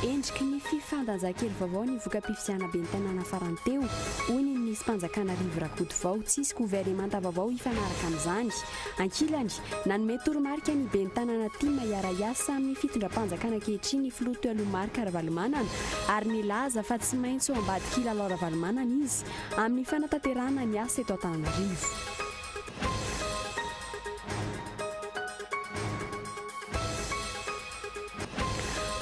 Endriky ny fifandanjan-kely vaovao ny voka-pifidianana ben'ny tanàna farany teo, hoy ny minisi-panjakana Rivo Rakotovao. Tsy hisy governemanta vaovao hifanaraka amin'izany. Ankilany, nanome toromarika ny ben'ny tanàna tim hiara-hiasa amin'ny fitondram-panjakana ankehitriny ny filoha Toeloha Marc Ravalomanana ary nilaza fa tsy maintsy ho ambadik'i Lalao Ravalomanana izy amin'ny fanatanterahana ny asa eto Antananarivo.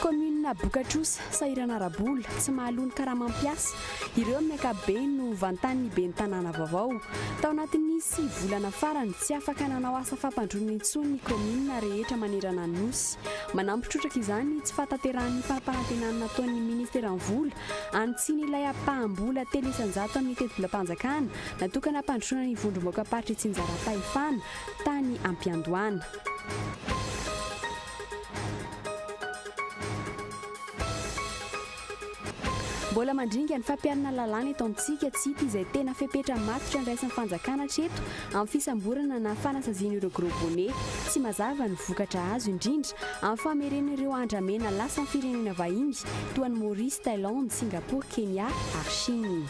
Kaominina Bokatrosa, sahirana ara-bola, tsy mahaloa ny karamam-piasa, ireo amin'ny ankapobeny no vantan'ny ben'ny tanàna vaovao. Tao anatin'ny sivy volana farany, tsy afaka nanao asa fampandroana intsony ny kaominina rehetra manerana ny Nosy. Manampy trotraka izany tsy fahatanterahan'ny fampanantenana nataon'ny Ministeran'ny Vola an'i Tsiny ilay ampaham-bola telo isan-jato amin'ny tetibolam-panjakana natokana hampandrosoana ny vondrom-baokamparitr'i Tsinjarapahefana tany Ampiandohana. Mbola mandringa ny fampiharana ny lalàna eto amintsika, tsy hita izay tena fepetra matotra andraisan'ny fanjakana hatreto amin'ny fisamborana na fanasaziana ireo gros bonnet. Tsy mazava ny vokatra azo, indrindra amin'ny famerena ireo andramena lasa amin'ny firenena vahiny toa an'i Maurice, Thailand, Singapour, Kenya ary Chine.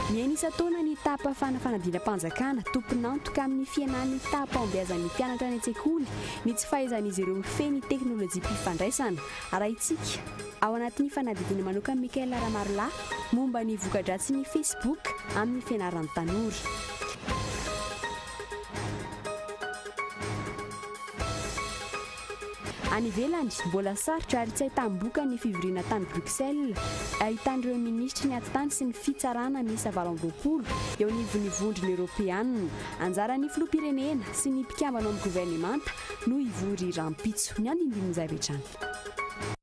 Mihaino isan-taona ny tapa fanafanadinam-panjakana, tompon'antoka amin'ny fihenan'ny taham-pahombiazan'ny mpianatra any an-tsekoly ny tsy fahaizan'izy ireo mifehy ny teknolojiam-pifandraisana. Arahintsika ao anatin'ny fanadihadiana manokan'i Michael Ramarolahy momba ny voka-dratsin'ny Facebook amin'ny fianaran'ny tanora. Any ivelany, mbola sarotra ary tsy ahitam-boka ny fivoriana tany Bruxelles, ahitan'ireo minisitry ny Atitany sy ny Fitsarana miisa valo amby roapolo eo anivon'ny Vondrona Eoropeana. Anjaran'ny Filoham-pirenena sy ny mpikambana ao amin'ny governemanta no hivory rahampitso. Ny andinindininy izay avy hatrany.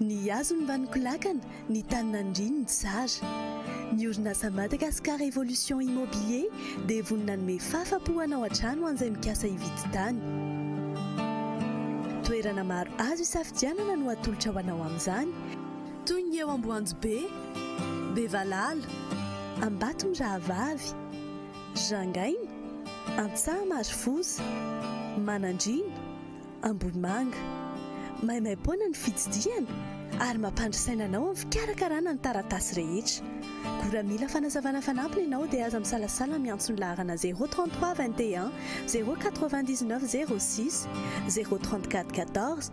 Ny hazony mba nikolakana, ny tany nandriany ny tsara. Ny orinasa Madagascar Evolution Immobilier dia vonona hanome fafa-po hanao an-trano ho an'izay mikasa hividy tany. Toerana maro azo isafidianana no atolotra ho anao amin'izany. Toy ny eo Amboanjobe, Bevalala, Ambatomirahavavy, Jangaina, Antsahamarfoza, Manandriana, Ambohimanga. Maimaim-poana ny fitsidihana ary mampandry saina anao amin'ny fikarakarana ny taratasy rehetra. Koa raha mila fanazavana fanampiny ianao dia aza misalasala miantso ny laharana 033 21 099 06 034 14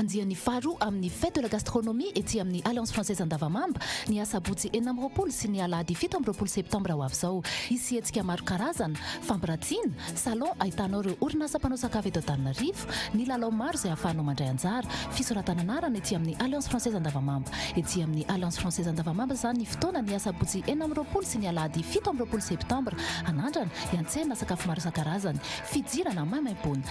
Andiany faharoa amin'ny Fête de la Gastronomie ety amin'ny Alliance Française Andavamamba, ny asabotsy enina amby roapolo sy ny alahady fito amby roapolo septambra ho avy izao. Hisy hetsika maro karazana, fampiratiana, salon ahitanao ireo orinasa mpanao sakafo eto Antananarivo, ny lalao maro izay ahafahanao mandray anjara, fisoratana anarana ety amin'ny Alliance Française Andavamamba. Ety amin'ny Alliance Française Andavamamba izany ny fotoana ny asabotsy enina amby roapolo sy ny alahady fito amby roapolo septambra. Anandrana, hiantsena sakafo maro isan-karazany, fidirana maimaimpoana.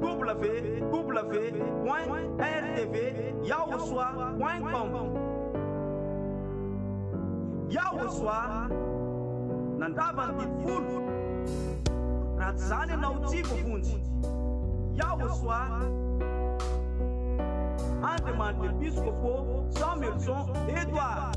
www.rtv-yahosoa.com Yahosoa nandrava ny didy folo Raha tsy izany ianao tsy voavonjy Yahosoa Andriamanitra Episkopo Samuelson Edward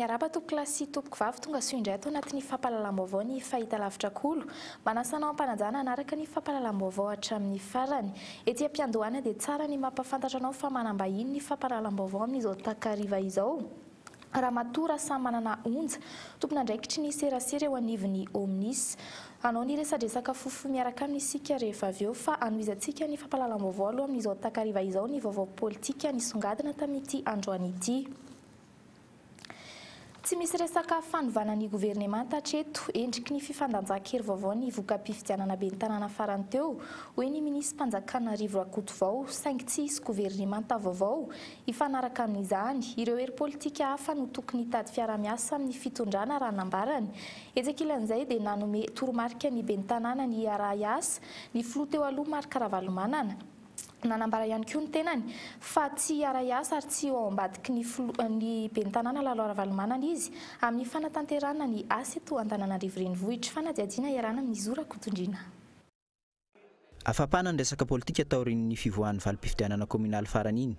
Miarahaba tompokolahy sy tompoko vavy tongasoa indray ato anatin'ny fampahalalam-baovao ny Fahitalavitra Kolo. Manasa anao hampanajana hanaraka ny fampahalalam-baovao hatramin'ny farany. Ety am-piandohana dia tsara ny mampahafantatra anao fa manam-bahiny ny fampahalalam-baovao amin'izao takariva izao. Ramatoa Rasamanana Onja, tompon'andraikitry ny serasera eo anivon'ny Omnis. Hanao ny resadresaka fohifohy miaraka aminy isika rehefa avy eo fa hanohizantsika ny fampahalalam-baovao aloha amin'izao takariva izao ny vaovao politika nisongadina tamin'ity androany ity. Tsy misy resaka fanovana ny governemanta hatreto, endriky ny fifandanjan-kery vaovao ny voka-pifidianana ben'ny tanàna farany teo, hoy ny minisitrim-panjakana Rivo Rakotovao, saingy tsy hisy governemanta vaovao Hifanaraka amin'izany, ireo hery politika hafa no tokony hitady fiaraha-miasa amin'ny fitondrana raha nambarany. Etsy ankilan'izay dia nanome toromarika ny ben'ny tanàna ny hiaraha hiasa ny filoha teo aloha Marc Ravalomanana. Nanambara ihany koa ny tenany fa tsy hiara hiasa ary tsy ho ao ambadiky ny filoha ny ben'ny tanàna Lalo Ravalomanana izy amin'ny fanatanterahana ny asa eto Antananarivo Renivohitra. Fanadihadiana iarahana amin'i Zo Rakotondriana. Afampana ny resaka politika taorian'ny fivoahan'ny valim-pifidianana kaominaly farany iny.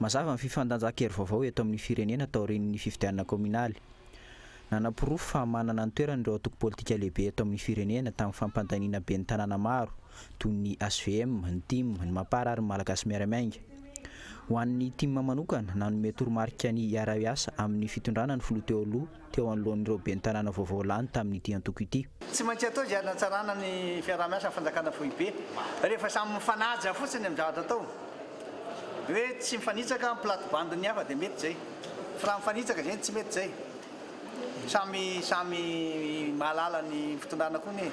Mazava ny fifandanjan-kery vaovao eto amin'ny firenena taorian'ny fifidianana kaominaly. Nanaporofo fa manana ny toerany ireo antoko politika lehibe eto amin'ny firenena tamin'ny fampandaniana ben'ny tanàna maro toy ny HVM, ny tim, ny Mapar ary ny Malagasy Miara-Miainga. Ho an'ny tim manokana, nanome toromarika ny hiara-hiasa amin'ny fitondrana ny filoha teo aloha, teo anoloan'ireo ben'ny tanàna vaovao lany tamin'ity antoko ity. Tsy maintsy atao izay hanatsarana ny fiaraha-miasan'ny fanjakana foibe. Rehefa samy mifanaja fotsiny amin'ny zavatra atao, hoe tsy mifanitsaka ny plate-bande ny hafa dia mety izay. Fa raha mifanitsaka izay no tsy mety izay. Samy samy mahalala ny fitondrana koa anie e.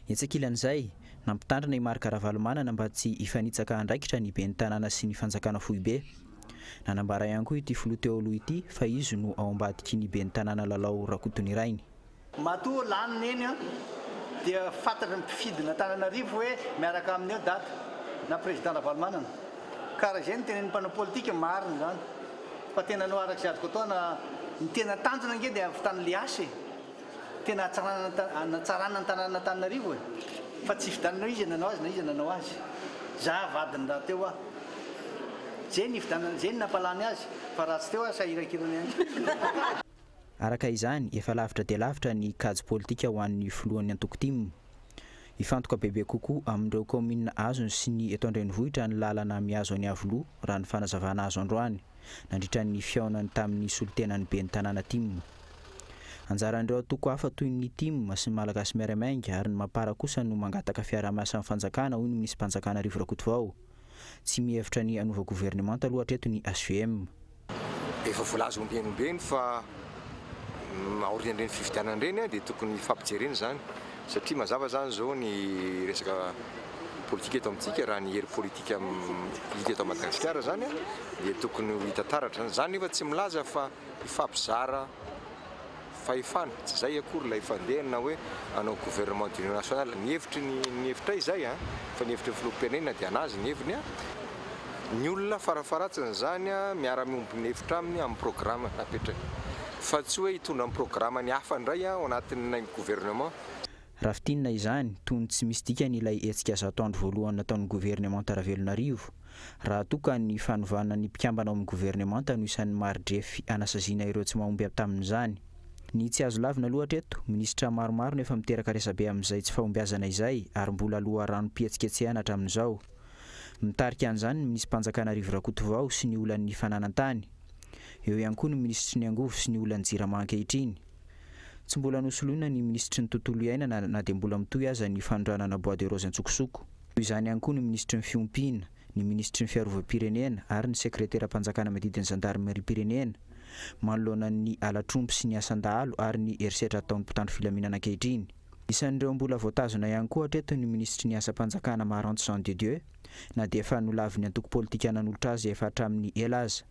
Etsy ankilan'izay, nampitandrina i Marc Ravalomanana mba tsy hifanitsaka andraikitra ny ben'ny tanàna sy ny fanjakana foibe. Nanambara ihany koa ity filoha teo aloha ity fa izy no ao ambadiky ny ben'ny tanàna Lalao Rakotonirainy. Matoa lany neny dia fantatry ny mpifidin'Antananarivo hoe miaraka aminy eo daty na président Ravalomanana. Ka raha izay no tenenin'ny mpanao politika, marina izany. Fa tena no araka izay azoko atao na ny tena tanjona ange dia avy tany Liasy e! Tena hatsarana hanatsarana ny tanan'Antananarivo e! Fa tsy hifidianana hoe iza nanao azy na iza nanao azy. Za vadiny raha teo aho. Zay ny hifidianana, zay ny nampalany azy. Fa raha tsy teo aho sahirakirana ihany. Araka izany, efa lavitra dia lavitra ny kajy politika ho an'ny filohan'ny antoko tim. Hifantoka bebe kokoa amin'ireo kaominina azony sy ny eto an-drenivohitra ny lalana mihazo an'Iavoloha, raha ny fanazavana azo androany. nandritra ny fihaonany tamin'ny solontenan'ny ben'ny tanàna tim. Anjaran'ireo antoko hafa toy ny tim sy ny Malagasy Miaray Mainga ary ny Mapar kosa no mangataka fiaraha-miasa amin'ny fanjakana hoy ny minisi-panjakana Rivo Rakotovao. Tsy mihevitra ny hanova governemanta aloha hatreto ny hvm. Efa voalaza ombieny ombieny fa aorian'ireny fifidianana ireny dia tokony hifampijerena izany Satria mazava izany izao ny resaka politika eto amintsika, raha ny hery politika hita eto Madagasikara izany dia tokony ho hita taratra izany. Izany nefa tsy milaza fa hifampizara fahefana, tsy izay akory ilay fandehany na hoe hanao gouvernement d'union nationale. Ny hevitry ny, ny hevitray izay an, fa ny hevitry ny filoham-pirenena dia an'azy ny heviny an, ny olona farafaharatsin'izany miara-miombon'hevitra aminy amin'ny programme napetrany. fa tsy hoe hitondra ny programany hafa indray ao anatin'ilay gouvernement. Raha fintinina izany, tony tsy misy dikany ilay hetsika zato andro voalohany nataon'ny gouvernemanta Ravelonarivo, raha toa ka ny fanovana ny mpikambana ao amin'ny gouvernemanta no isan'ny mari-drefy hanasaziana ireo tsy mahomby avy tamin'izany. Ny tsy azo lavina loatra eto, minisitra maromaro no efa miteraka resabe amin'izay tsy fahombiazana izay ary mbola loharanom-pihetsiketsehana hatramin'izao. Mitarika an'izany ny minisi-panjakana Rivo Rakotovao sy ny olan'ny fananan-tany. Eo ihany koa ny minisitry ny angovo sy ny olan-jirama ankehitriny. Tsy mbola nosoloina ny minisitry ny tontolo iainana na dia mbola mitohy aza ny fanondranana bois de rose an-tsokosoko. Toy izany ihany koa ny minisitry ny fiompiana, ny minisitry ny fiarovam-pirenena ary ny sekreteram-panjakana miadidy ny zandarimeriam-pirenena, manoloana ny halatr'omby sy ny asan-dahalo ary ny herisetra ataon'ny mpitandro filaminana ankehitriny. Isan'ireo mbola voatazona ihany koa hatreto ny minisitry ny asam-panjakana Maranto Jean de Dieu, na dia efa nolavin'ny antoko politika nanolotra azy efa hatramin'ny ela aza.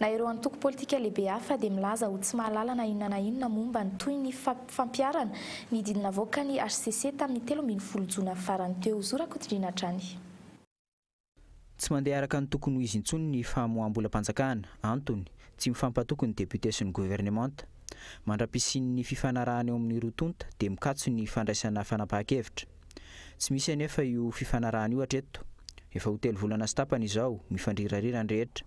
Na ireo antoko politika lehibe hafa dia milaza ho tsy mahalala na inona na inona momba ny tohin'ny fampiharana ny didy navoakan'ny hcc tamin'ny telo ambin'ny folo jona farany teo. Zo Rakotondriana hatrany. Tsy mandeha araka ny tokony ho izy intsony ny famoaham-bolam-panjakana. Antony, tsy mifampatoky ny députés sy ny governemanta. Mandra-pisian'ny fifanarahana eo amin'ny roa tonta dia mikatso ny fandraisana fanapahan-kevitra. Tsy misy anefa io fifanarahana io hatreto. Efa ho telo volana sy tapany izao, mifandrirarira ny rehetra.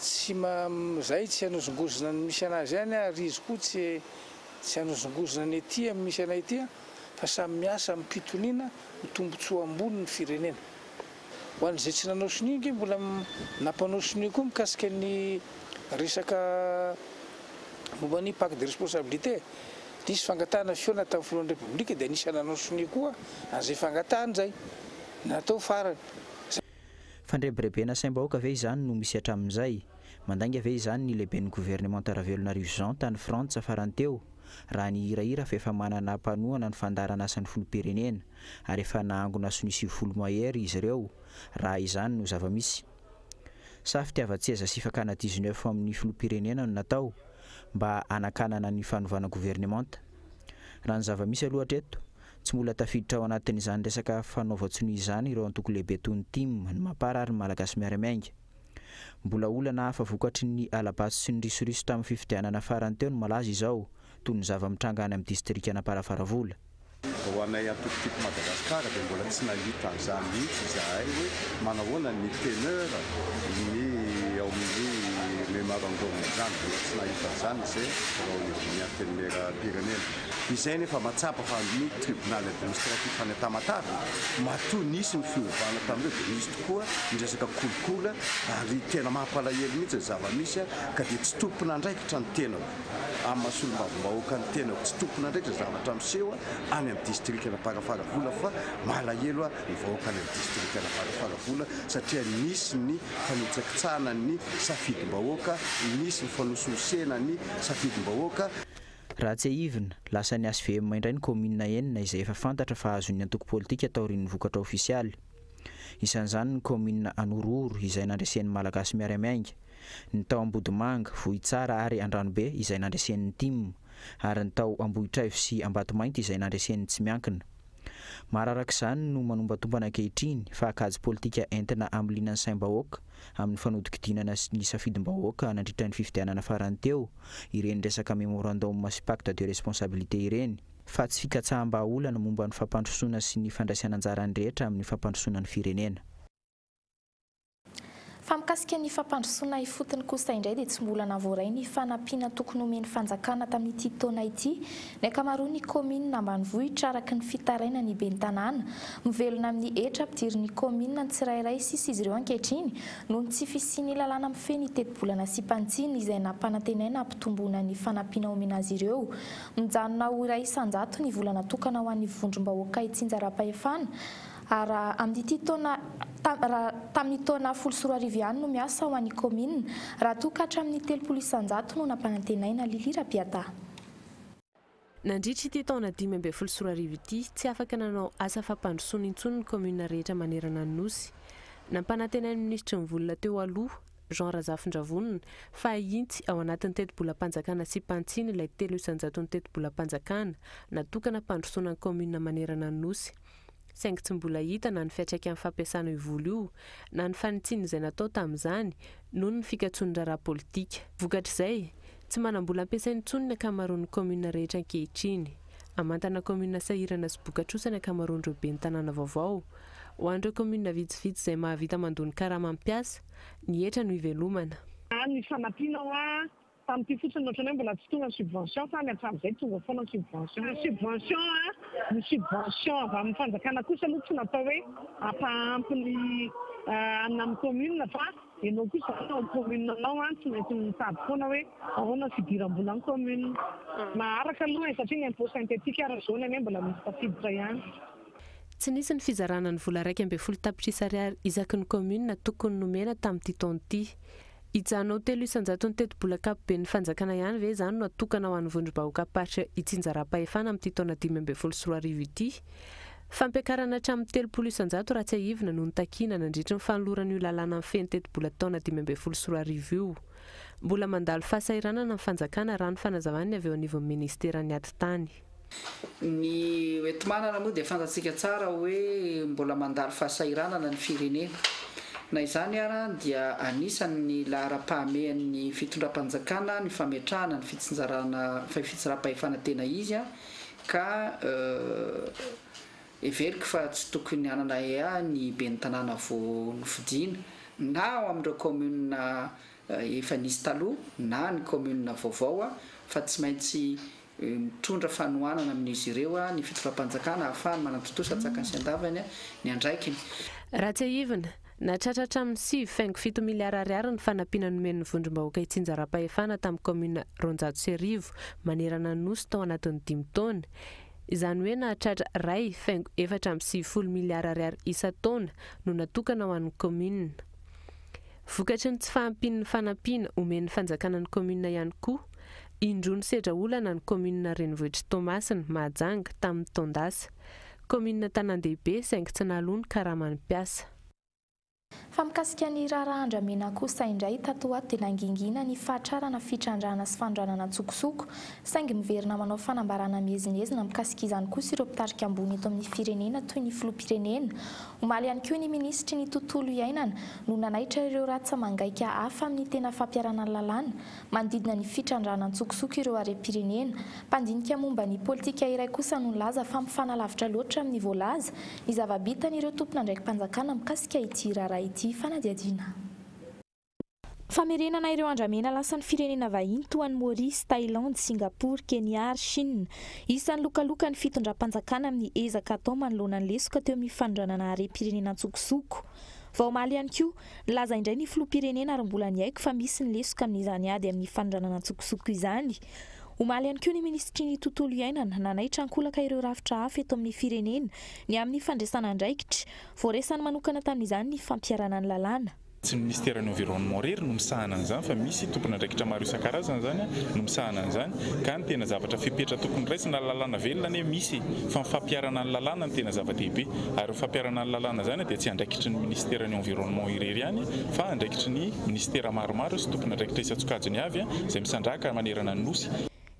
tsy ma zay tsy hanozongozona ny misy anazy any ary izy koa tsy tsy hanozongozona ny ety am misy anay ety fa samy miasa am pitoniana ho tombotsoa ambony ny firenena ho an zay tsy nanao sonia nge mbola nampanao sonia koa mikasika ny resaka momba ny paque de responsabilité nisy fangatahana fihaonana tam filohan'ny repoblika dia anisan nanao sonia koa an zay fangatahana zay natao farany Fandrebirebena saim-bahoaka ve izany no misy hatramin'izay? Mandainga ve izany ny lehiben'ny governemanta Ravelonarivo Jean tany Frantsa farany teo? Raha ny hirahira fa efa manana mpanohana ny fandaharan'asan'ny filoham-pirenena ary efa nahangona sonia sivifolo mahery izy ireo raha izany no zava-misy. Sa fitiavan-tseza sy fakana dix-neuf amin'ny filoham-pirenena no natao mba hanakanana ny fanovana governemanta? Raha ny zava-misy aloha hatreto Tsy mbola tafiditra ao anatin'izany resaka fanaovan-tsonia izany ireo antoko lehibe toy ny tim, ny Mapar ary ny Malagasy Miary Miainga. Mbola olana hafa vokatry ny hala-bato sy ny risoriso tamin'ny fifidianana farany teo no malaza izao, toy ny zava-mitranga any amin'ny distrikan'Amparafaravola. Ho anay antoko Keep Madagascar dia mbola tsy nahita an'izany mihitsy izahay hoe manahoana ny teneur ny ao amin'ny memorandum izany. Mbola tsy nahita an'izany izay vao ny antenimieram-pirenena. Izay anefa mahatsapa fa ny Tribunal Administratif any Tamatave matoa nisy ny fiovana tamin'ireo dia nisy tokoa ny resaka kolikoly ary tena mampalahelo mihitsy ny zava-misy ka dia tsy tompon'andraikitra ny tenako amin'ny maha solombavambahoaka ny tenako tsy tompon'andraikitra ny zavatra miseho any amin'ny Distrikan'Amparafaravola fa malahelo ny vahoaka any amin'ny Distrikan'Amparafaravola satria nisy ny fanitsakitsahana ny safidim-bahoaka nisy ny fanosohosena ny safidim-bahoaka Raha tsiahivina, lasan'ny HVM indray ny kaominina enina izay efa fantatra fa azon'ny antoko politika taorian'ny vokatra ofisialy. Isan'izany ny kaominina Anorohoro izay nandresen'ny Malagasy Miara-Miainga, ny tao Ambodimanga, Vohitsara ary Andranobe izay nandresen'ny tim, ary ny tao Ambohitraivo sy Ambatomainty izay nandresen'ny tsy miankina. Mararaka izany no manombantombana ankehitriny fa kajy politika entina amiliana ny saim-bahoaka amin'ny fanodinkodinana ny safidim-bahoaka nandritra ny fifidianana farany teo ireny resaka memorandum sy pacte de responsabilité ireny, fa tsy fikatsaham-bahaolana momba ny fampandrosoana sy ny fandraisana anjara ny rehetra amin'ny fampandrosoana ny firenena. Fa mikasika ny fampandrosoana ifotony kosa indray dia tsy mbola navoaray ny fanampiana tokony homen'ny fanjakana tamin'ity taona ity ny ankamaroan'ny kaominina ambanivohitra araka ny fitarainan'ny ben'ny tanàna mivelona amin'ny hetra ampidirin'ny kaominina ny tsirairay sisa izy ireo ankehitriny noho ny tsy fisian'ny lalàna mifehy ny tetibolana sy mpantsiny izay nampanantenaina hampitomboana ny fanampiana omena azy ireo mijanona ho iray isan-jato ny vola natokana ho an'ny vondrom-bahoaka itsinjaram-pahefana ary raha amin'ity taona raha tamin'ny taona folo sy roa arivo ihany no miasa ho an'ny kaominina, raha toa ka hatramin'ny telopolo isan-jato no nampanantenaina, Lily Rabiata. Nandritra ity taona dimy ambin'ny folo sy roa arivo ity, tsy afaka nanao asa fampandrosoana intsony ny kaominina rehetra manerana ny Nosy. Nampanantenain'ny minisitry ny Vola teo aloha, Jean Razafindravonona, fa hahitsy ao anatin'ny tetibolam-panjakana sipantsiny ilay telo isan-jaton'ny tetibolam-panjakana natokana hampandrosoana ny kaominina manerana ny Nosy. saingy tsy mbola hita na ny fiantraikan'ny fampiasana io vola io, na ny fanitsiana izay natao tamin'izany noho ny fikatsoan'ny raharaha politika. Vokatr'izay, tsy manam-bola ampiasaina intsony ny ankamaroan'ny kaominina rehetra ankehitriny. Amantana kaominina sahirana sy bokatrosa ny ankamaroan'ireo ben'ny tanàna vaovao. Ho an'ireo kaominina vitsivitsy izay mahavita mandoa ny karama ny mpiasa, ny hetra no ivelomana. Any Fanampiana hoa Tamin'ity fotsiny no ohatran'ny hoe mbola tsy tonga ny subvention fa any hatramin'izay tonga foana ny subvention. Ny subvention a, ny subvention avy amin'ny fanjakana kosa aloha tsy natao hoe hampaampy ny anona amin'ny commune fa ianao kosa izany ao commune anao a tsy maintsy mitady foana hoe ahoana ny fidiram-bola amin'ny commune. Maharaka aloha e, satria ny impôt synthétique ary zao ny anie mbola misy tafiditra ihany. Tsy nisy ny fizarana ny vola iraika ambin'ny folo tapitrisa ariary isaky ny commune tokony nomena tamin'ity taona ity. Hijanao telo isan-jaton'ny tetibola ankapoben'ny fanjakana ihany ve izany no atokana ho an'ny vondrom-bahoakam-paritra itsinjaram-pahefana amin'ity taona dimy ambin'ny folo sy roa arivo ity? Fampiakarana hatramin'ny telopolo isan-jato raha tsiahivina no notakina nandritry ny fanoloran'io lalàna mifehy ny tetibola taona dimy ambin'ny folo sy roa arivo io. Mbola mandalo fahasahiranana ny fanjakana raha ny fanazavan'ny avy eo anivon'ny ministeran'ny atitany. Ny hoenti-manana moa dia fantatsika tsara hoe mbola mandalo fahasahiranana ny firenena. Na izany ara dia anisan' ny laharam-pahamehan' ny fitondram-panjakana ny fametrahana ny fitsinjarana fitsinjaram-pahefana tena izy ka heveriko fa tsy tokony hanana ea ny ben'ny tanàna vao nofidina na ao amin' ireo kaominina efa nisy taloha na ny kaominina vaovao fa tsy maintsy Mitondra fanohanana amin'izy ireo ny fitondram-panjakana ahafahany manatontosa an-tsakany sy an-davany ny andraikiny. Raha tsiahivina, nahatratra hatramin'ny sivy faingo fito miliara ariary ny fanampiana nomen'ny vondrom-bahoaka itsinjaram-pahefana tamin'ny kaominina roanjato sy arivo manerana ny Nosy tao anatin'ny dimy taona, izany hoe nahatratra iray faingo efatra amby sivifolo miliara ariary isan-taona no natokana ho an'ny kaominina. Vokatry ny tsy fahampian'ny fanampiana omen'ny fanjakana ny kaominina ihany koa Indroa nisedra olana ny kaominina renivohitr'i Toamasina, Mahajanga, tamin'ny taon-dasa. Kaominina tanàn-dehibe saingy tsy naloa ny karaman'ny mpiasa. Fa mikasika ny raharaha andramena kosa indray, tato ho ato dia nangingina ny fahatrarana fitrandrahana sy fanondranana an-tsokosoko. Saingy miverina manao fanambarana miezinezina mikasika izany kosa ireo mpitarika ambony eto amin'ny firenena toy ny filoham-pirenena. Omaly ihany koa ny minisitry ny tontolo iainana no nanaitra ireo ratsa-mangaika hafa amin'ny tena fampiharana ny lalàna Manodidina ny fitrandrahana an-tsokosoko ireo harem-pirenena, mpandinika momba ny politika iray kosa no nilaza fa mifanalavitra loatra amin'ny voalaza ny zava-bitan' ireo tompon'andraiki-panjakana mikasika ity raharaha ity fanadihadiana. Famerenana ireo andramena lasan'ny firenena vahiny toa an'i Maorisy, Thailandy, Singapour, Kenya ary Chine. Isan'ny lokaloka ny fitondram-panjakana amin'ny ezaka atao manoloana ny lesoka teo amin'ny fanondranana harem-pirenena an-tsokosoko. Vao omaly ihany koa, Nilaza indray ny filoham-pirenena ary mbola niaiky fa misy ny lesoka amin'izany ady amin'ny fanondranana an-tsokosoko izany. Omaly ihany koa ny minisitry ny Tontolo iainana nanaitra an-kolaka ireo rafitra hafa eto amin'ny firenena ny amin'ny fandraisana andraikitra. Voaresany manokana tamin'izany ny fampiharana ny lalàna. Tsy ny minisiteran'ny Environnement irery no misahana an'izany fa misy tompon'andraikitra maro isan-karazany izany no misahana an'izany. ka ny tena zavatra fepetra tokony raisina lalàna velona anie misy fa ny fampiharana ny lalàna no tena zava-dehibe ary ny fampiharana ny lalàna izany dia tsy andraikitry ny ministera ny environnement irery ihany fa andraikitry ny ministera maromaro sy tompon'andraikitra isan-tsokajiny avy izay misandrahaka manerana ny Nosy.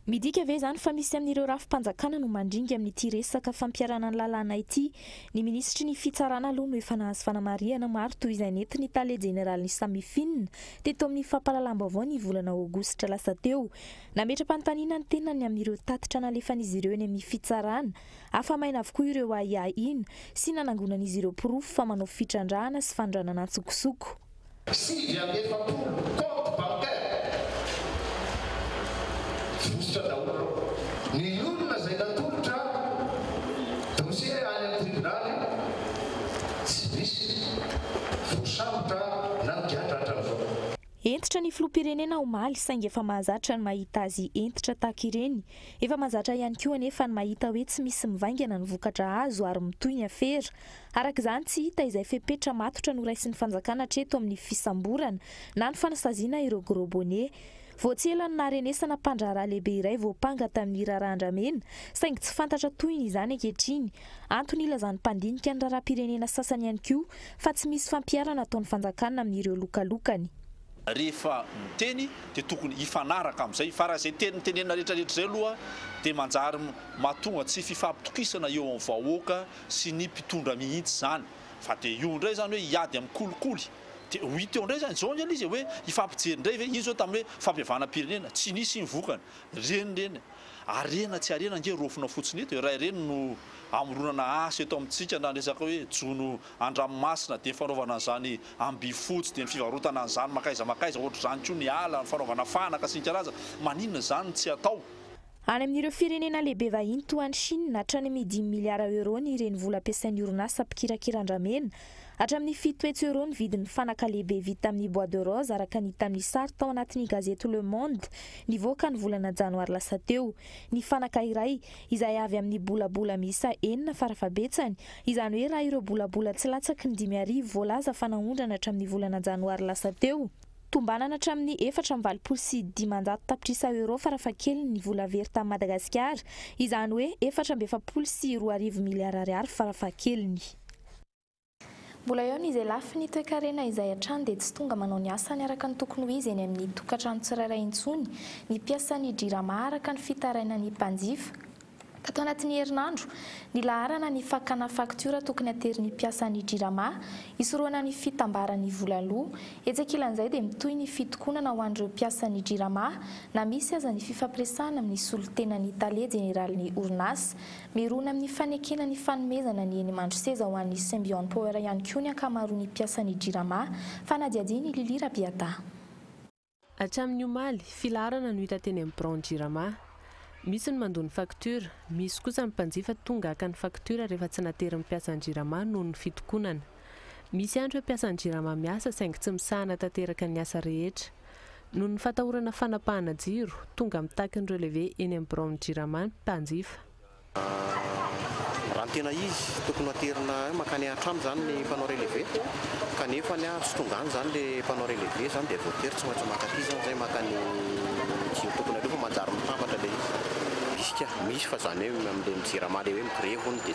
Midika ve izany fa misy amin'ireo rafi-panjakana no mandringa amin'ity resaka fampiharana ny lalàna ity? Ny minisitry ny fitsarana aloha no efa nahazo fanamarihana maro toy izay nentin'ny tale jeneralin'ny Samifin teto amin'ny fampahalalam-baovao ny volana aogositra lasa teo Nametra-panontaniana ny tenany amin'ireo tatitra nalefan'izy ireo eny amin'ny fitsarana. Afa-maina avokoa ireo ahiahiana sy nanangonan'izy ireo porofo fa manao fitrandrahana sy fanondranana an-tsokosoko. Sivy amby efapolo comptes bancaires vositra daholo ny olona izay natolotra dossier any amin'ny tribonaly, tsy misy voasambotra na migadra hatramin'izao. Hentitra ny filoham-pirenena omaly saingy efa mahazatra ny mahita azy hentitra tahaka ireny. Efa mahazatra ihany koa anefa ny mahita hoe tsy misy mivaingana ny vokatra azo ary mitohy ny afera. Araka izany, tsy hita izay fepetra matotra noraisin'ny fanjakana hatreto amin'ny fisamborana na ny fanasaziana ireo gros bonnets. Vao tsy ela no naharenesana mpandraharaha lehibe iray voampanga tamin'ny raharaha andramena saingy tsy fantatra tohiny izany ankehitriny Antony ilazan'ny mpandinika ny raharaham-pirenena sasany ihany koa fa tsy misy fampiharana ataon'ny fanjakana amin'ireo lokalokany. Rehefa miteny dia tokony hifanaraka amin'izay fa raha izay teny mitenenina rehetrarehetra izay aloha dia manjary mahatonga tsy fifampitokisana eo amin'ny vahoaka sy ny mpitondra mihitsy izany. Fa dia io indray izany hoe hiady amin'ny kolikoly dia ho hita eo indray izany. Izao anie ilay izy e, hoe hifampijery indray ve? Iny izao tamin'ny hoe fampihavanam-pirenena, tsy nisy iny vokany. Ireny ireny. Harena tsy harena ange raofina fotsiny eto e, raha ireny no amoronana asa eto amintsika na ny resaka hoe jono an-dranomasina dia ny fanaovana an'izany ambifotsy dia ny fivarotana an'izany mankaiza mankaiza ohatr'izany koa ny ala, ny fanaovana fanaka sy ny karazany, maninona izany no tsy atao? Any amin'ireo firenena lehibe vahiny toa an'i Chine, hatrany amin'ny dimy miliara euros ny renivola ampiasain'ny orinasa mpikirakira andramena Hatramin'ny fito hetsy euros ny vidin'ny fanaka lehibe vita amin'ny bois de rose araka ny hita amin'ny sary tao anatin'ny gazety Le Monde nivoaka ny volana janoary lasa teo. Ny fanaka iray, izay avy amin'ny bolabola miisa enina farafahabetsany, izany hoe raha ireo bolabola tsy latsaky ny dimy arivo voalaza fa naondrana hatramin'ny volana janoary lasa teo, tombanana hatramin'ny efatra amby valopolo sy dimanjato tapitrisa euros farafahakeliny ny vola very tany Madagasikara, izany hoe efatra amby efapolo sy roa arivo miliara ariary farafahakeliny. Mbola eo ny izay lafiny toekarena izay hatrany dia tsy tonga manao ny asany araka ny tokony ho izy eny amin'ny tokantrano tsirairay intsony ny mpiasan'ny Jirama araka ny fitarainan'ny mpanjifa. Tato anatin'ny herinandro, nilaharana ny fakana faktiora tokony aterin'ny mpiasan'ny Jirama hisorohana ny fitambaran'ny vola loa. Etsy ankilan'izay dia mitohy ny fitokonana ho an'ireo mpiasan'ny Jirama na misy aza ny fifampiresahana amin'ny solontenan'ny Tale jeneralin'ny orinasa. Mirona amin'ny fanekena ny fanomezana ny eny Mandroseza ho an'ny Symbion Power ihany koa ny ankamaroan'ny mpiasan'ny Jirama, fanadihadian'i Lily Rabiata. Hatramin'ny omaly, filaharana no hita teny amin'ny biraon'ny Jirama. Misy ny mandoa ny faktiora, misy kosa ny mpanjifa tonga haka ny faktiora rehefa tsy naterin'ny mpiasan'ny Jirama noho ny fitokonana. Misy ihany ireo mpiasan'ny Jirama miasa saingy tsy misahana tanteraka ny asa rehetra. Noho ny fatahorana fanapahana jiro, tonga mitaky ny relevé eny amin'ny biraon'ny Jirama ny mpanjifa. Raha ny tena izy, tokony ho aterina hoe mankany an-trano izany ny mpanao relevé, kanefa ny ahy tsy tonga any izany ilay mpanao relevé izany dia avy eo tery tsy maintsy maka aty izany izay maka ny jiro tokony aloha fa manjary mitambatra ilay izy. Misy ka, misy fa izany hoe amin'ilay ny Jirama ilay hoe mi-grevy hono dia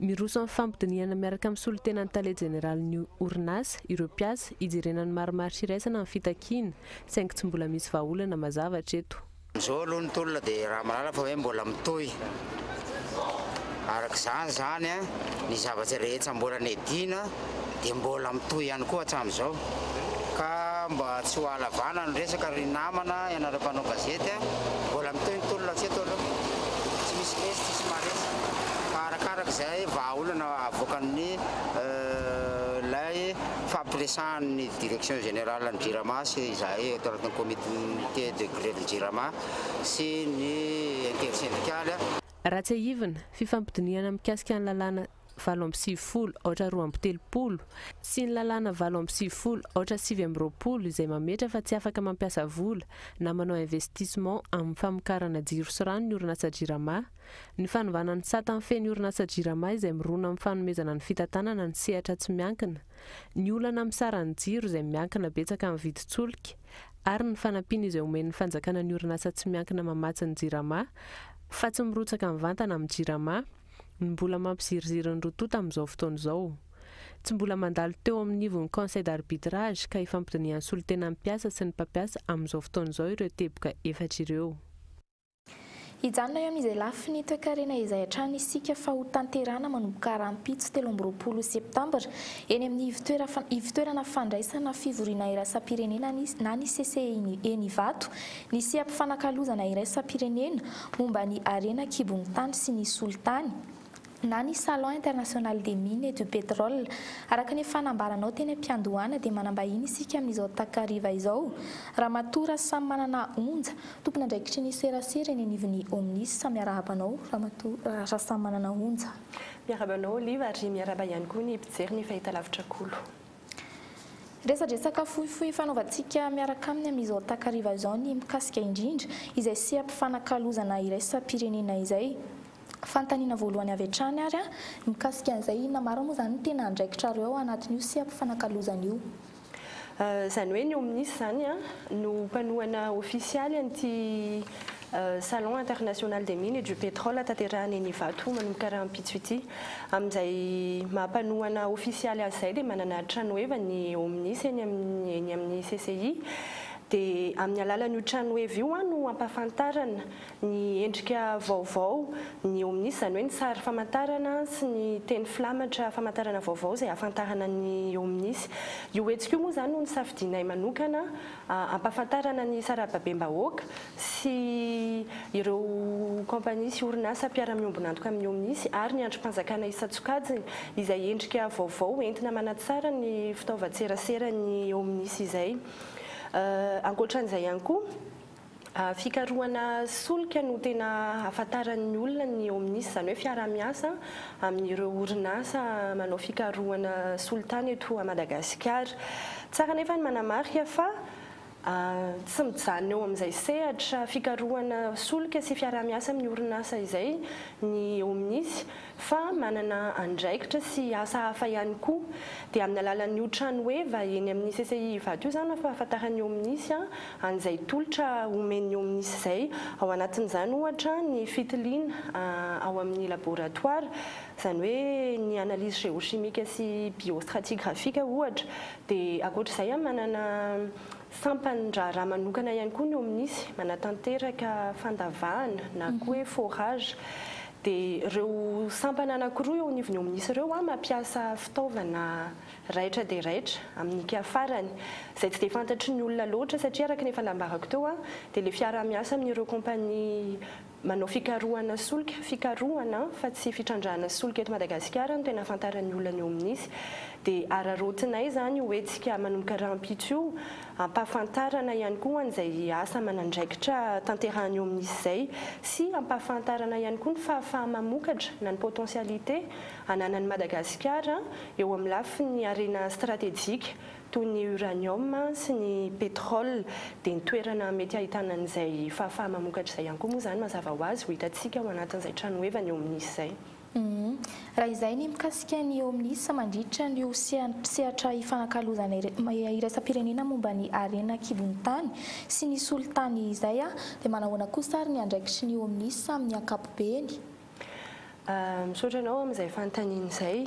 Miroso amin'ny fampidinihana miaraka amin'ny solontenan'ny tale jeneralin'ny orinasa ireo mpiasa hijerena ny marimaritra iraisana ny fitakiana, saingy tsy mbola misy vahaolana mazava hatreto. Amin'izao aloha ny tolona dia raha mahalala fa hoe mbola mitohy araka izany izany ny zavatra rehetra mbola nedina. dia mbola mitohy ihany koa hatramin'izao ka mba tsy ho ahalavana ny resaka ry namana ianareo mpanao gazety a! mbola mitohy ny tolona hatreto aloha tsy misy resy tsisy maharesy fa arakaraka izay vahaolana avoakan'ny ilay fampiresahan'ny direction générale ny jirama sy izahay eto anatin'ny comité de grève ny jirama sy ny intersendikaly a! Raha tsiahivina, fifampidinihana mikasika ny lalàna valo amby sivifolo aotra roa amby telopolo sy ny lalàna valo amby sivifolo aotra sivy amby roapolo izay mametra fa tsy afaka mampiasa vola na manao investissement amin'ny famokarana jiro sy rano ny orinasa Jirama, ny fanovana ny sata mifehy ny orinasa Jirama izay mirona amin'ny fanomezana ny fitantanana ny sehatra tsy miankina, ny olana amin'ny saran'ny jiro izay miankina betsaka amin'ny vidin-tsolika ary ny fanampiana izay omen'ny fanjakana ny orinasa tsy miankina mamatsy ny Jirama fa tsy mirotsaka mivantana amin'ny Jirama. no mbola mampiziriziry ny Rototo amin'izao fotoana izao. Tsy mbola mandalo teo amin'ny ivon'ny Conseil d'Arbitrage ka ifampidinihan'ny solontenan'ny mpiasa sy ny mpampiasa amin'izao fotoana izao ireo teboka efatra ireo. Hijanona eo amin'izay lafiny toekarena izay hatrany isika fa ho tanterahana manomboka rahampitso telo amby roapolo septambra eny amin'ny ivotoerana fandraisana fivoriana irasam-pirenena na ny CCEI eny Ivato Ny seha-pifanakalozana iraisam-pirenena momba ny harena an-kibon'ny tany sy ny solitany, na ny Salon international des mines et du pétrole. Araka ny efa nambaranao teny am-piandohana dia manam-bahiny isika amin'izao takariva izao, Ramatoa Rasamimanana Onja, tompon'andraikitry ny serasera eny anivon'ny OMNIS. Miarahaba anao Ramatoa Rasamimanana Onja. Miarahaba anao Olive ary miarahaba ihany koa ny mpijery ny Fahitalavitra Kolo. Resadresaka fohifohy fanaovantsika miaraka aminy amin'izao takariva izao ny mikasika indrindra izay seha-pifanakalozana iraisam-pirenena izay. Fanontaniana voalohany avy hatrany ary an, mikasika an'izay inona marina moa izany no tena andraikitrareo ao anatin'io seha-pifanakalozana io? Izany hoe ny OMNIS izany an, no mpanohana ofisialy an'ity Salon international des mines et du pétrole tanterahina eny Ivato manomboka rahampitso ity. Amin'izay maha mpanohana ofisialy azy izay dia manana tranoheva ny OMNIS eny amin'ny eny amin'ny CCI. Dia amin'ny alalan'io tranoheva io no ampahafantarana ny endrika vaovao ny OMNIS, izany hoe ny sary famantarana sy ny teny filamatra famantarana vaovao izay ahafantarana ny OMNIS. Io hetsika io moa izany no nisafidianay manokana ampahafantarana ny sarababem-bahoaka sy ireo kaompania sy orinasa mpiara-miombon'antoka amin'ny OMNIS ary ny andrim-panjakana isan-tsokajiny izay endrika vaovao entina manatsara ny fitaovan-tseraseran'ny OMNIS izay. Ankoatra an'izay ihany koa, fikarohana solika no tena hahafantaran'ny olona ny OMNIS, izany hoe fiaraha-miasa amin'ireo orinasa manao fikarohana solitany eto Madagasikara. Tsara anefa ny manamarika fa tsy mijanona eo amin'izay sehatra fikarohana solika sy fiaraha-miasa amin'ny orinasa izay ny Omnis fa manana andraikitra sy asa hafa ihany koa. Dia amin'ny alalan'io trano heva eny amin'ny CCI Ivato io izany no ampahafantaran'ny Omnis an'izay tolotra omen'ny Omnis izay. Ao anatin'izany ohatra ny fitiliana ao amin'ny laboratoara, izany hoe ny analyse géochimique sy biostratigraphique ohatra, Dia ankoatra izay an, manana sampan'ny raharaha manokana ihany koa ny OMNISY, manatanteraka fandavahana na koa hoe forage. Dia ireo sampana anankiroa eo anivon'ny OMNISY ireo an, mampiasa fitaovana raitra dia raitra amin'ny mpiafarany, izay tsy dia fantatry ny olona loatra, satria araka ny efa nambarako teo an, dia ilay fiaraha-miasa amin'ireo kaompania Manao fikarohana solika, fikarohana fa tsy fitrandrahana solika eto Madagasikara no tena ahafantaran'ny olona ny eo amin'izy. Dia araraotinay izany io hetsika manomboka rahampitso io, hampahafantarana ihany koa an'izay asa aman'andraikitra tanterahany eo amin'izy izay sy hampahafantarana ihany koa ny fahafaha-mamokatra na ny potentialités ananan'i Madagasikara eo amin'ny lafiny harena stratejika toy ny uranium sy ny pétrole, dia ny toerana mety ahitana an'izay fahafaha-mamokatra izay ihany koa moa izany mazava ho azy ho hitantsika ao anatin'izay tranohevany eo amin'izy izay. Raha izay ny mikasika ny eo amin'izy mandritra an'io sehatra ifanakalozana iraisam-pirenena momba ny harena an-kibon'ny tany sy ny solitany izay, dia manahoana kosa ary ny andraikitry ny eo amin'izy amin'ny ankapobeny? Misaotra anao amin'izay fanontaniana izay.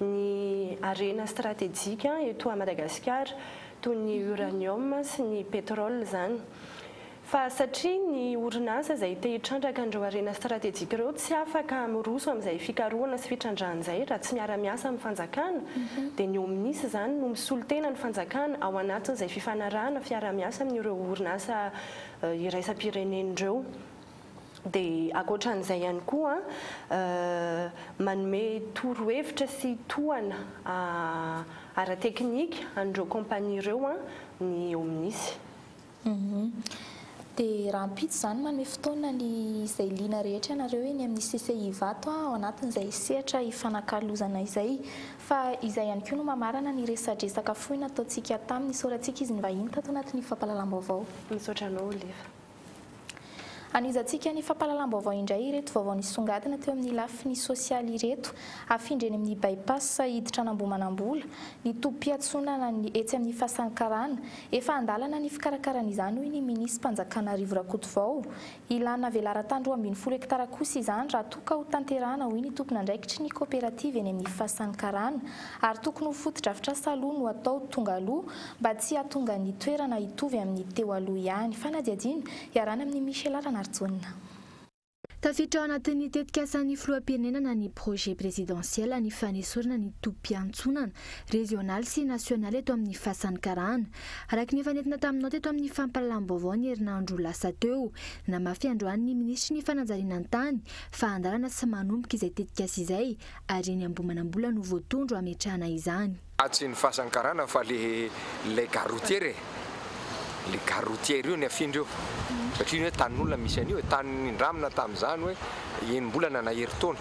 ny harena stratejika eto à Madagasikara toy ny uranium sy ny pétrole izany fa satria ny orinasa izay te hitrandraka an'ireo harena stratejika ireo tsy afaka miroso amin'izay fikarohana sy fitrandrahana izay raha tsy miara-miasa amin'ny fanjakana dia ny omnis izany no misolo tena ny fanjakana ao anatin'izay fifanarahana fiarahamiasa amin'ireo orinasa iraisam-pirenena ireo. Dia ankoatran'izay ihany koa, manome torohevitra sy tohana ara-teknika an'ireo kaompania ireo ny OMNIS. Dia rahampitso izany manome fotoana ny izay liana rehetra ianareo eny amin'ny CCI Ivato ao anatin'izay sehatra ifanakalozana izay. Fa izay ihany koa no mamarana ny resadresaka fohy nataontsika tamin'ny nisoratsika izy nivahiny tato anatin'ny fampahalalam-baovao. Misaotra anao Olive. Hanohizantsika ny fampahalalam-baovao indray ireto vaovao nisongadina teo amin'ny lafiny sosialy ireto, Afindra eny amin'ny By-pass hiditra an'Ambohimanambola, ny tobim-piatsonanan'ny etsy amin'ny Fasan'ny Karana, efa an-dalana ny fikarakarana izany hoy ny Minisim-panjakana Rivo Rakotovao. Ilàna velaran-tany roa ambin'ny folo hektara kosa izany raha toa ka hotanterahana hoy ny tompon'andraikitry ny kaoperativa eny amin'ny Fasan'ny Karana ary tokony ho fotodrafitrasa aloha no atao tonga aloha mba tsy hahatonga ny toerana hitovy amin'ny teo aloha ihany. Fanadihadiana iarahana amin'i Michela Ranarijaona. Tafiditra ao anatin'ny tetikasan'ny filoham-pirenenana ny projet présidentiel ny fanesorana ny tobim-piantsonana régional sy national eto amin'ny fasan'ny karana. Araka ny efa nentina taminao teto amin'ny fampahalalam-baovao ny herinandro lasa teo, namafy androany ny minisitry ny fanajariana ny tany, fahandarana sy manomboka izay tetikasa izay ary eny Ambohimanambola no voatondro hametrahana izany. Ah tsy ny fasan'ny karana fa le ilay gare routière e, le gare routière io ny afindra io satria io hoe tanin'olona misy an'io e, tany nindramina tamin'izany hoe enim-bolana na herintaona,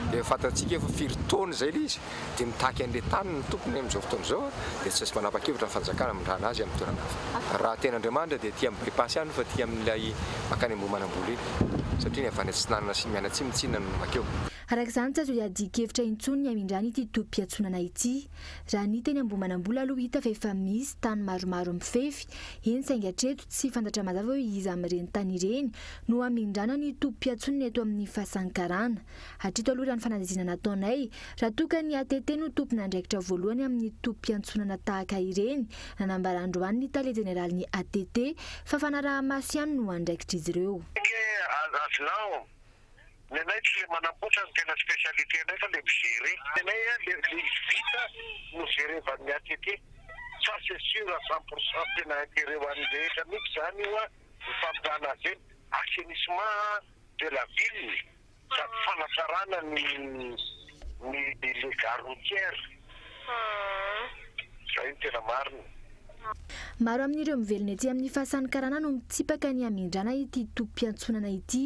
dia fantatsika efa firy taona izay le izy dia mitaky an'le tany ny tompony amin'izao fotoana izao a, dia tsy manapa-kevitra ny fanjakana hamindrana azy amin'ny toerana hafa. Raha tena Andriamanitra dia aty amin'ny bypass ihany fa aty amin'ilay makany Ambohimanambola iny satria ny avy any atsinanana sy mianatsimo tsinona no makeo. Araka izany, tsy azo iadian-kevitra intsony ny hamindràna ity tobim-piantsonana ity. Raha ny teny Ambohimanambola aloha hita fa efa misy tany maromaro mifefy, eny saingy hatreto tsy fantatra mazava hoe iza amin'ireny tany ireny no hamindràna ny tobim-piantsonana eto amin'ny Fasankarana. Hatreto aloha raha ny fanadihadiana nataonay, raha toa ka ny ATT no tompon'andraikitra voalohany amin'ny tobim-piantsonana tahaka ireny, nanambara androany ny tale jeneralin'ny ATT fa fanarahamaso ihany no andraikitr'izy ireo. Aza avelao Ny anay tsy le manamboatra no tena specialité nay fa le mi-gere. Ny anay a le le vita no jerevan'ny atete. Ça c'est sur à cent pour cent tena interet ho an'ny rehetra mihitsy zany io a, ny famotrahana azy ireny. Assainissement de la ville sady fanatsarana ny ny le gare routière. Izay no tena marina. Maro amin'ireo mivelona ety amin'ny Fasan'ny Karana no mitsipaka ny hamindràna ity tobim-piantsonana ity.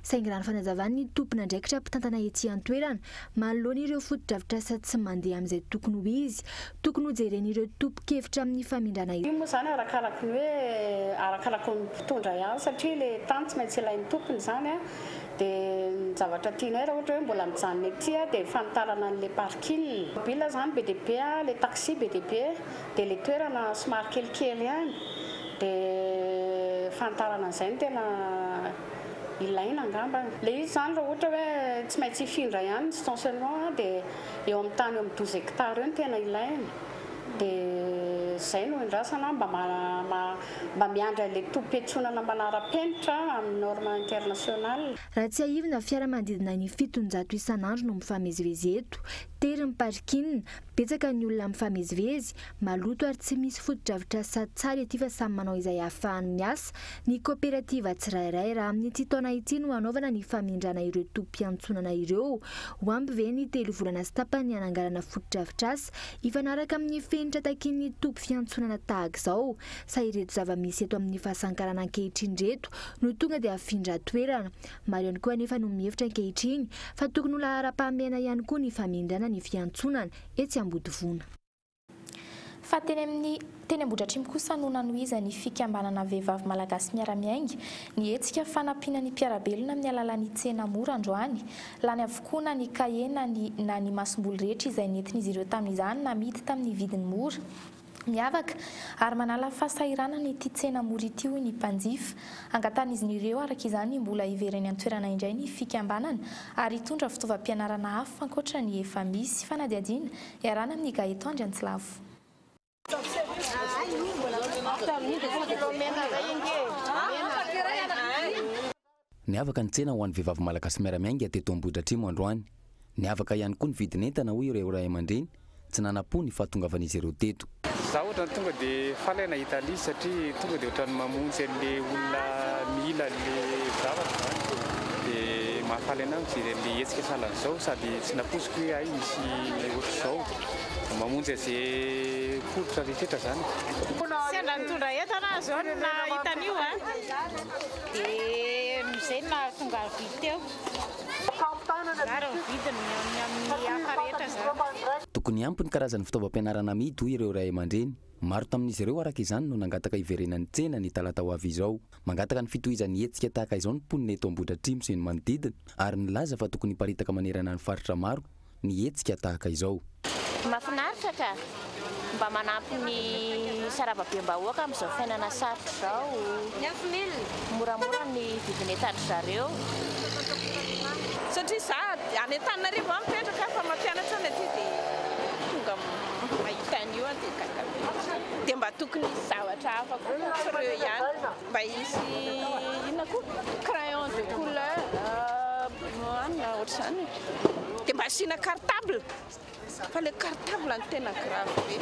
Saingy raha ny fanazavan'ny tompon'andraikitra mpitantana ety an-toerana, manoloana ireo fotodrafitrasa tsy mandeha amin'izay tokony ho izy, tokony hojeren'ireo tompon-kevitra amin'ny famindràna izany. Io moa izany arakaraky ny hoe, arakaraky ny mpitondra ihany satria ilay tany tsy maintsy ilain'ny tompony izany. Dia ny zavatra tianay raha ohatra hoe mbola mijanona ety dia ny fanitarana an'ilay parking. Mobile izany be dia be, ilay taxi be dia be, dia ilay toerana somary kelikely ihany. Dia fanitarana an'izay no tena ilaina angamba. Ilay izy izany raha ohatra hoe tsy maintsy hifindra ihany ny stationnement dia eo amin'ny tany eo amin'ny douze hectares eo no tena ilaina. Dia izay no iandrasana mba mba miandry an'ilay tobim-piantsonana manara-penitra amin'ny norme internationale. Raha tsiahivina, fiara manodidina ny fitonjato isan'andro no mifamezivezy eto. Tery ny parking, betsaka ny olona mifamezivezy, maloto ary tsy misy fotodrafitrasa sady tsara ity fa samy manao izay ahafahany miasa ny kaoperativa tsirairay. Raha amin'ity taona ity no hanaovana ny famindrana ireo tobim-piantsonana ireo, ho ampy ve ny telo volana sy tapany hananganana fotodrafitrasa? Hifanaraka amin'ny fenitra takian'ny toby fiantsonana tahaka izao, sa ireto zava-misy eto amin'ny fahasankarana ankehitriny ireto no tonga dia afindra toerana? Maro ihany koa anefa no mihevitra ankehitriny fa tokony ho laharam-pahamehana ihany koa ny famindràna ny fiantsonana etsy Ambodivona. Fa teny amin'ny Teny Ambohidratrimo kosa no nanohizan'ny fikambanana Vehivavy Malagasy Miara-Miainga ny hetsika fanampiana ny mpiara-belona amin'ny alalan'ny tsena mora androany. Lany avokoa na ny kahie na ny na ny masomboly rehetra izay nentin'izy ireo tamin'izany namidy tamin'ny vidiny mora, miavaka ary manala fahasahiranana ity tsena mora ity hoy ny mpanjifa. Angatahin'izy ireo araka izany ny mbola hivereny an-toerana indray ny fikambanana ary hitondra fitaovam-pianarana hafa ankoatra ny efa misy. Fanadihadiana iarahana amin'ny Gaëtan Andriantsilavo. Niavaka ny tsena ho an'ny vehivavy malagasy miara-miainga teto Ambohidratrimo androany. Niavaka ihany koa ny vidin'entana hoy ireo ray aman-dreny, tsy nanam-po ny fahatongavan'izy ireo teto. Za ohatran'ny tonga de faly aho nahita an'izy satria tonga de ohatran'ny mamonjy an'le olona mila an'le zavatra zany de mahafaly anah mijery an'le hetsika sahalan'izao sady tsy nampoiziko hoe hay misy ohatr'izao. Mamonjy aze poritra rehetra zany. Sendra nitondra entana aho zao no nahita an'io a. Dia izay no nahatonga ahy nividy teo. Mirary ny vidiny ny amin'ny hafa rehetra izany. Tokony ampy ny karazan'ny fitaovam-pianarana amidy, hoy ireo ray aman-dreny. Maro tamin'izy ireo, araka izany, no nangataka hiverenan'ny tsena ny talata ho avy izao. Mangataka ny fitohizan'ny hetsika tahaka izao ny mponina eto Ambohidratrimo sy ny manodidina, ary nilaza fa tokony hiparitaka manerana ny faritra maro ny hetsika tahaka izao. Mafinaritra ka! Mba manampy ny sarababem-bahoaka amin'izao fiainana sarotra izao. Moramora ny vidin'enta dry zareo. Satria za any Antananarivo aho mipetraka fa mampianatra any aty dia tonga mahita an'io aho dia gaga be. Dia mba tokony hisy zavatra hafa koa moa tsy ireo ihany. Mba hisy inona koa? Crayon de couleur an na ohatr'izany e. Dia mba asiana cartable fa ilay cartable no tena grave be.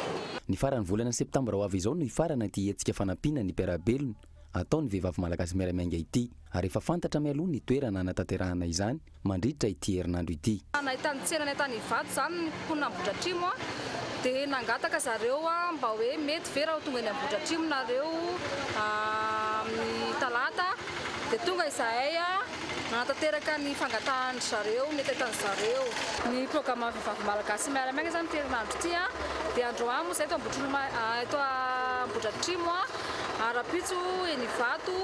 Ny faran'ny volana septambra ho avy izao no hifarana ity hetsika fanampiana ny mpiara-belona ataon'ny vehivavy malagasy miara-miainga ity, ary efa fantatra mialoha ny toerana hanatanterahana izany. mandritra ity herinandro ity. Nahitany tsena any an-tany Ivato izany ny mponina Ambohidratrimo dia nangataka zareo mba hoe mety ve raha ho tonga eny Ambohidratrimo nareo amin'ny talata dia tonga izahay hanatanteraka ny fangatahan-dry zareo mety ahitan-dry zareo ny programan'ny vehivavy malagasy miara-miaina izany ity herinandro ity dia androany moa izahay eto Ambohitrimo eto Ambohidratrimo, ara-pitso eny Ivato,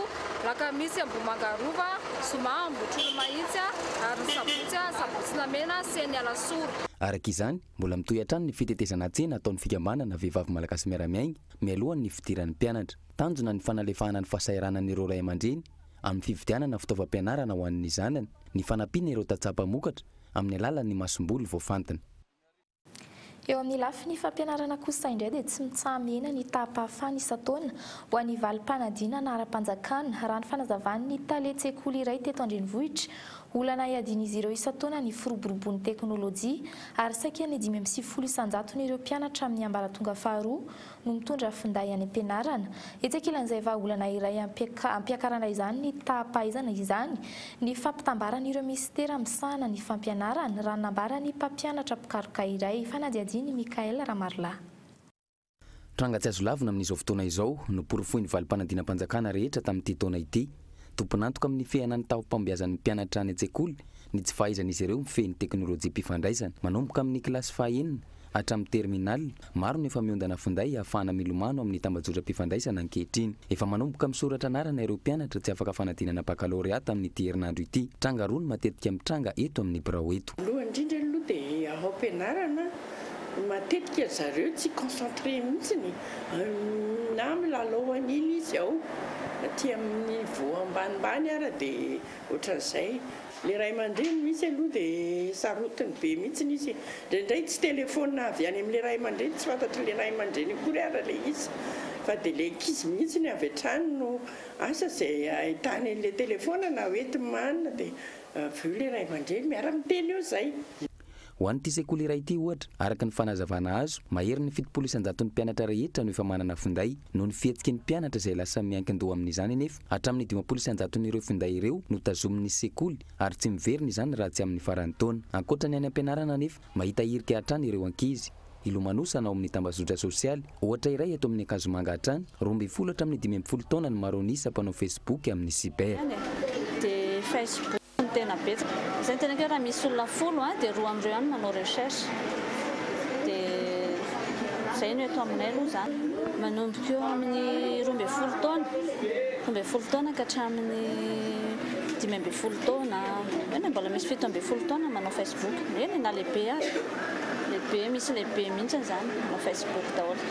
alakamisy Ambohimanga Rova. Zoma, Ambohitrolo Mahitsy, ary ny Sabotsy, Sabotsinamena, sy eny Alasora. Araka izany, mbola mitohy hatrany ny fitetezana tsena ataon'ny Fikambanana Vehivavy Malagasy Miara-miainga mialohan'ny fidiran'ny mpianatra. Tanjona ny fanalefahana ny fahasahiranan'ireo ray aman-dreny amin'ny fividianana fitaovam-pianarana ho an'ny zanany, ny fanampiana ireo tantsaha mpamokatra amin'ny alalan'ny masomboly voafantina. Eo amin'ny lafiny fampianarana kosa indray dia tsy mitsaha-mihena ny taham-pahafahana isan-taona ho an'ny valim-panadinana ara-panjakana, raha ny fanazavan'ny tale tsekoly iray teto an-drenivohitra. Olana iadian'izy ireo isan-taona ny firoboroboan'ny teknolojia ary saika ny dimy amby sivifolo isan-jatony ireo mpianatra amin'ny ambaratonga faharoa no mitondra finday any am-pianarana. Etsy ankilan'izay vahaolana iray hampiakarana izany ny taha-pahaizana izany ny fampitambaran'ireo minisitera misahana ny fampianarana, raha nambara ny mpampianatra mpikaroka iray, fanadihadian'i Michaël Ramarilahy. Tranga tsy azo lavina amin'izao fotoana izao no porofoin'ny valim-panadinam-panjakana rehetra tamin'ity taona ity. Tompon'antoka amin'ny fihena ny taom-pambeazan'ny mpianatra any an-tsekoly ny tsy fahaizan'izy ireo mifehy ny teknolojiam-pifandraisana manomboka amin'ny kilasy fahaenina Hatramin'ny terminal, maro no efa miondana finday hahafahana milomano amin'ny tambajotram-pifandraisana ankehitriny. Efa manomboka misoratra anarana ireo mpianatra tsy afaka fanadinana bakalorea tamin'ity herinandro ity. Tranga roa no matetika mitranga eto amin'ny birao eto. Voalohany indrindra aloha dia ao am-pianarana, matetika ry zareo tsy concentré mihitsy na milalao an'iny izy ao, aty amin'ny voho ambanimbany ary dia ohatran'izay. Le ray aman-dreny misy aloha de sarotiny be mitsiny izy, ndraindray tsy telephone avy any amle ray aman-dreny, tsy fantatrinle ray aman-dreny akory ara le izy fa de le ankizy mihitsiny avy hatrany no asa ze ahitany anle telephone na hoe timana de avy eo le ray aman-dreny miara-miteny eo zay. Ho an'ity sekoly iray ity, ohatra, araka ny fanazavana azo, maherin'ny fitopolo isan-jaton'ny mpianatra rehetra no efa manana finday. Noho ny fihetsiky ny mpianatra izay lasa miankin-doha amin'izany anefa, hatramin'ny dimampolo isan-jaton'ireo finday ireo no tazomin'ny sekoly ary tsy miverina izany raha tsy amin'ny faran'ny taona. Ankoatra ny any am-pianarana anefa, mahita hirika hatrany ireo ankizy. Hilomanosana ao amin'ny tambazotra sosialy, ohatra iray eto amin'ny Ankazomanga hatrany, roa ambin'ny folo hatramin'ny dimy ambin'ny folo taona ny maro an'isa mpanao Facebook amin'ny cyber. no tena betsaka, izay no tena kira raha misy olona folo a dia roa amin'ireo ihany manao recherche dia izay no eto aminay aloha izany. Manomboka eo amin'ny roa ambin'ny folo taona, roa ambin'ny folo taona ka hatramin'ny dimy ambin'ny folo taona, eo na mbola misy fito ambin'ny folo taona manao Facebook, eny e na lehibe aza, lehibe misy lehibe mihitsy izany manao Facebook daholo.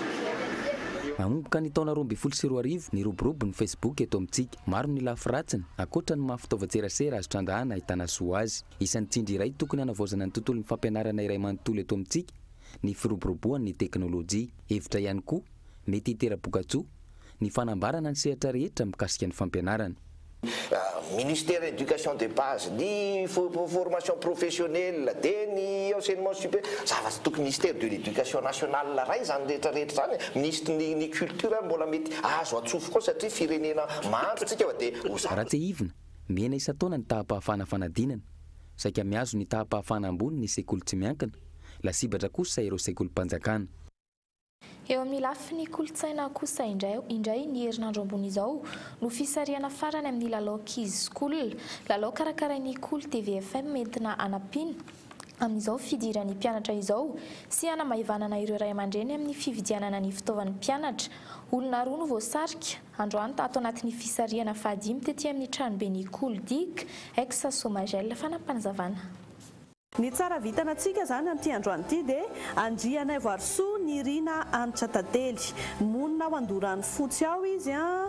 Nanomboka ny taona roa ambin'ny folo sy roa arivo, niroborobo ny Facebook eto amintsika. Maro ny lafy ratsiny, ankoatra ny maha fitaovan-tserasera azo trangahana ahitana soa azy. Isan'ny tsindry iray tokony hanavaozana ny tontolon'ny fampianarana iray manontolo eto amintsika ny firoboroboan'ny teknolojia. Hevitra ihany koa, mety hitera-bokatsoa, ny fanambarana ny sehatra rehetra mikasika ny fampianarana. Ministère Education de base, ny Formation professionnelle, dia ny Enseignement supérieur, zavatra tokony Ministère de l'Education nationale ray izany rehetra rehetra izany e! Ministry ny ny Culture ary mbola mety Azo atsofoka ao satria firenena mahantra tsika fa dia ho zara. Raha tsehivina, mihena isan-taona ny taham-pahafahana fanadinana. Saika mihazo ny taham-pahafahana ambony ny sekoly tsy miankina, lasibatra kosa ireo sekolim-panjakana. Eo amin'ny lafiny kolontsaina kosa indray, indray ny herinandro ambony izao no fisarihana farany amin'ny lalao Kids School. Lalao karakarain'ny Kolo TV FM entina hanampiana. amin'izao fidiran'ny mpianatra izao sy hanamaivanana ireo ray aman-dreny amin'ny fividianana ny fitaovan'ny mpianatra. Olona roa no voasarika, androany tato anatin'ny fisarihana fahadimy tety amin'ny tranoben'ny Cooldic, ex Somagel, Fanampinazavana. Ny tsara vitana antsika izany amin'ity androany ity dia Andrianaivoarisoa Nirina Hanitra Tantely. Monina ao Andoranofotsy ao izy an,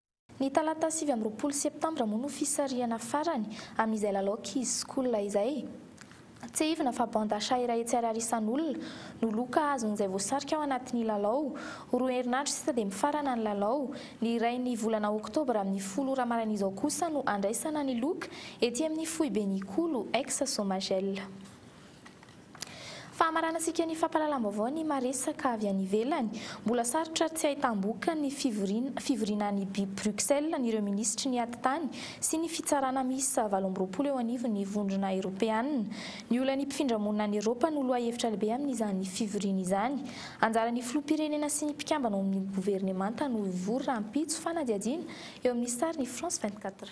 Ny talata sivy amby roapolo septambra moa no fisarihana farany amin'izay lalao kizokola izay. Tsiahivina fa bande achat iray hetsy ariary isan'olona no loka azon'izay voasarika ao anatin'ny lalao. Roa herinandro sisa dia mifarana ny lalao. Ny iray ny volana oktobra amin'ny folo ora maran'izao kosa no andraisana ny loka ety amin'ny foiben'Ikolo, ex Somagel. Fahamaranantsika ny fampahalalam-baovao ny maresaka avy any ivelany. Mbola sarotra ary tsy ahitam-boka ny fivoriana fivoriana any Bruxelles ny ireo minisitry ny atitany sy ny fitsarana miisa valo amby roapolo eo anivon'ny vondrona eropeanina. Ny olan'ny mpifindra monina any Eropa no lohahevitra lehibe amin'izany fivoriana izany. Anjaran'ny filoham-pirenena sy ny mpikambana ao amin'ny governemanta no hivory rahampitso fanadihadiana eo amin'ny sary ny France vingt-quatre.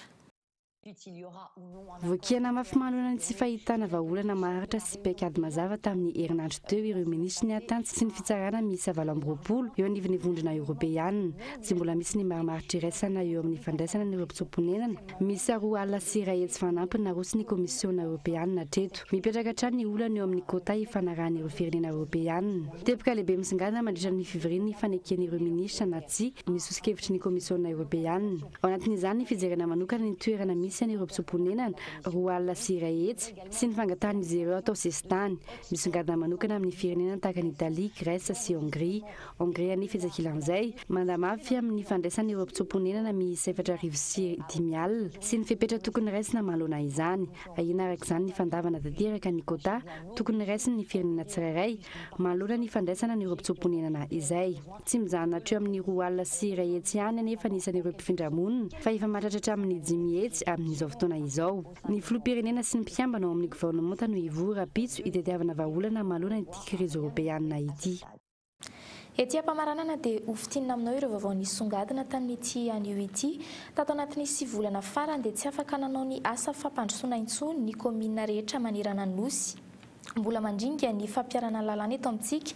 Voakiana mafy manoloana ny tsy fahitana vahaolana maharitra sy paikady mazava tamin'ny herinandro teo ireo minisitry ny Atans sy ny Fitsarana miisa valo amby roapolo eo anivon'ny Vondrona Eoropeana. Tsy mbola misy ny marimaritra iraisana eo amin'ny fandraisana ny robotsoam-ponenana miisa roa alina sy iray hetsy fanampiny naroson'ny Komisiona Eoropeana hatreto. Mipetraka hatrany ny olana eo amin'ny quota ifanarahan'ireo firenena Eoropeana. Teboka lehibe misongadina mandritra ny fivorian'ny faneken'ireo minisitra na tsia ny soso-kevitry ny Komisiona Eoropeana. Ao anatin'izany ny fijerena manokana ny toerana misy an'ireo mpitsoa-ponenana, roa alina sy iray hetsy, sy ny fangatahan'izy ireo atao sesitany. Misongadina manokana amin'ny firenena tahaka an'i Italia, Grèce sy Hongria. Hongria anefa iza kilan'izay, manda mafy amin'ny fandraisana ireo mpitsoa-ponenana miisa efatra arivo sy dimy alina sy ny fepetra tokony raisina manoloana izany. Ahiana araka izany ny fandavana tanteraka ny quota tokony raisin'ny firenena tsirairay manoloana ny fandraisana an'ireo mpitsoa-ponenana izay. Tsy mijanona hatreo amin'ny roa alina sy iray hetsy ihany anefa ny isan'ireo mpifindra monina fa efa mahatratra hatramin'ny dimy hetsy amin'izao fotoana izao. Ny filoham-pirenena sy ny mpikambana ao amin'ny governemanta no hivory rahampitso hitadiavana vahaolana manoloana ity krizy eoropeanina ity. Ety am-pamaranana dia hofitinina aminao ireo vaovao nisongadina tamin'ity anio ity. Tato anatin'ny sivy volana farany dia tsy afaka nanao ny asa fampandrosoana intsony ny kaominina rehetra manerana ny Nosy. Mbola mandringa ny fampiharana lalàna eto amintsika.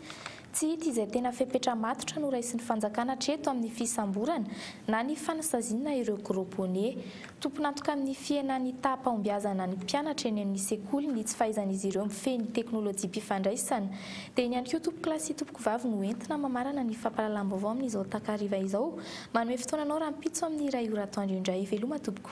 Tsy hita izay tena fepetra matotra noraisin'ny fanjakana hatreto amin'ny fisamborana na ny fanasaziana ireo gros bonnet. Tompon'antoka amin'ny fihenan'ny taham-pahombiazana ny mpianatra eny amin'ny sekoly ny tsy fahaizan'izy ireo mifehy ny teknolojiam-pifandraisana. Dia iny ihany koa tompokolahy sy tompokovavy no entina mamarana ny fampahalalam-baovao amin'izao takariva izao. Manome fotoana anao rahampitso amin'ny iray ora atoandro indray. Veloma tompoko.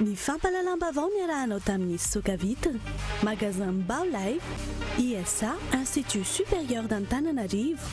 Ny fampahalalam-baovao niarahanao tamin'ny fisoka vitre, Magasin Mbao Live, ISA, Institut Supérieur d'Antananarivo,